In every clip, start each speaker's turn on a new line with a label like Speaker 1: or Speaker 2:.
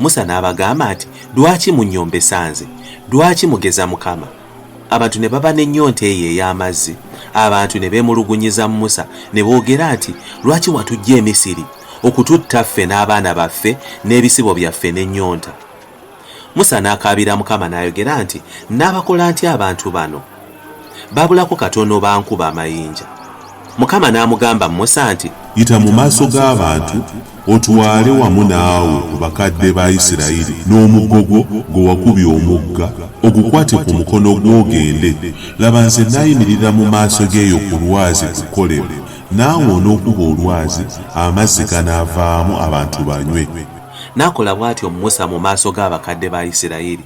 Speaker 1: Musa n'abagamba nti, Lwaki munnyombesa nze? Lwaki mugeza Mukama? Abantu ne baba n'ennyonta eyo ey'amazzi. Abantu ne beemulugunyiza Musa ne boogera nti, Lwaki watuggya e Misiri okututta ffe n'abaana baffe n'ebisibo byaffe n'ennyonta? Musa n'akaabira Mukama n'ayogera nti, Nnaabakola ntya abantu bano? Baabulako katono bankuba amayinja. Mukama n'amugamba Musa nti. Yita mu maaso
Speaker 2: g'abantu otwale wamu naawe ku bakadde ba Isirayiri n'omuggo gwo gwe wakubye omugga, ogukwate ku mukono gwo ogende. Laba nze nnaayimirira mu maaso ge eyo ku lwazi ku Kolebu, naawe onookuba olwazi, amazzi ganaavaamu abantu banywe. N'akola
Speaker 1: bw'atyo Musa mu maaso g'abakadde ba Isirayiri.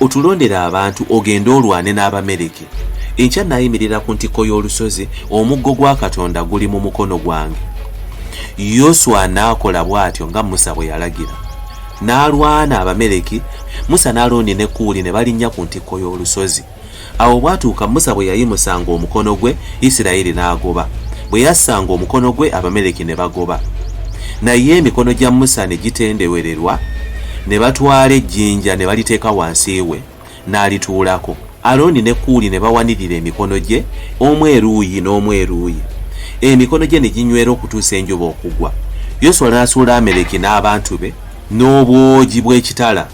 Speaker 1: Otulondere abantu ogende olwane n'Abamereke. Enkya naayimirira ku ntikko y'olusozi, omuggo gwa Katonda guli mu mukono gwange. Yoswa n'akola bw'atyo nga Musa bwe yalagira. N'alwana Abamereki, Musa n'Alooni ne Kuuli ne balinnya ku ntikko y'olusozi. Awo obwatuuka Musa bwe yayimusanga omukono gwe, Isirayiri n'agoba, bwe yassanga omukono gwe, Abameleki ne bagoba. Naye emikono gya Musa ne gitendewererwa, ne batwala ejjinja ne baliteeka wansi we, n'alituulako. Alooni ne Kuuli ne bawanirira emikono gye, omu eruuyi n'omu eruuyi, emikono gye ne ginywera okutuusa enjuba okugwa. Yoswa n'asuula Ameleki n'abantu be n'obwogi bw'ekitala.